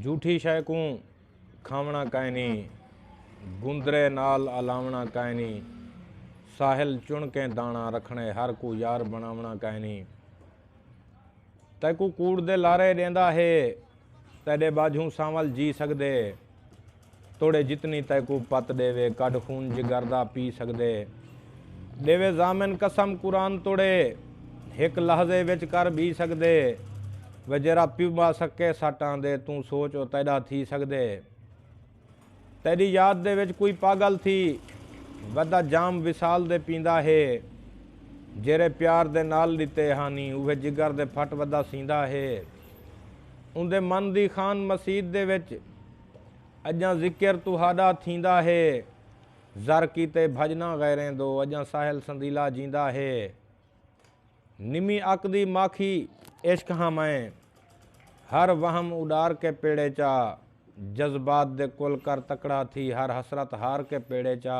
جھوٹھی شئے کوں کھاوݨا کائنی گندرے نال الاوݨا کائنی ساحل چنکیں داݨا رکھݨے ہر کوں یار بݨاوݨا کائنی تیکوں کوڑ دے لارے ݙیندا ہے تیݙے ٻاجھوں سانول جی سڳدے توڑے جتنی تیکوں پت ڈیوے کڈھ خون جگر دا پی سگدے ڈیوے ضامن قسم قرآن توڑے ہک لحظے وچ کر بی سگدے وے جیرا پیوبا سکے سٹ آندے توں سوچ او تیڈا تھی سگدے تیڈی یاد دے وچ کوئی پاگل تھی ودا جام وصال دے پیندا ہے جیرے پیار دے نال ڈتے ہانی اوہے جگر دے پھٹ ودا سیندا ہے اوندے من دی خان مسید دے وچ اڄاں ذکر تہاݙا تھیندا ہے زر کیتے بھڄناں غیریں دو اڄاں ساحل سندیلا جیندا ہے نمی اک دی ماکھی عشق ہاں میں ہر وہم اݙار کے پیڑے چا جذبات دے کل کر تکڑا تھی ہر حسرت ہار کے پیڑے چا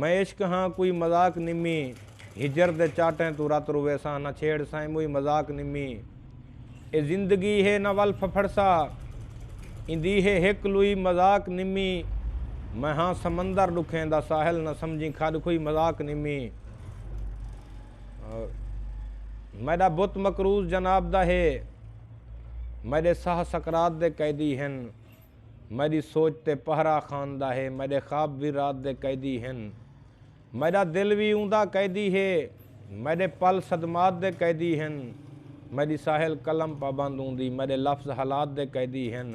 میں عشق ہاں کوئی مذاق نمی ہجر دے چاٹیں توں رت رویساں نہ چھیڑ سائیں موئی مذاق نمی اے زندگی ہے نہ ول پھپھڑسا ایندی ہے ہک لوئی مذاق نمی میں ہاں سمندر ڈکھیں دا ساحل نہ سمجھیں کھڈ کھوئی مذاق نمی میڈا بت مقروض جناب دا ہے میڈے ساہ سکرات دے قیدی ہن۔ میݙی سوچ تے پہرا خان دا ہے میݙے خواب وی رات دے قیدی ہن میݙا دل وی اوندا قیدی ہے میݙے پل صدمات دے قیدی ہن میݙی ساحل قلم پابند اوندی میݙے لفظ حالات دے قیدی ہن۔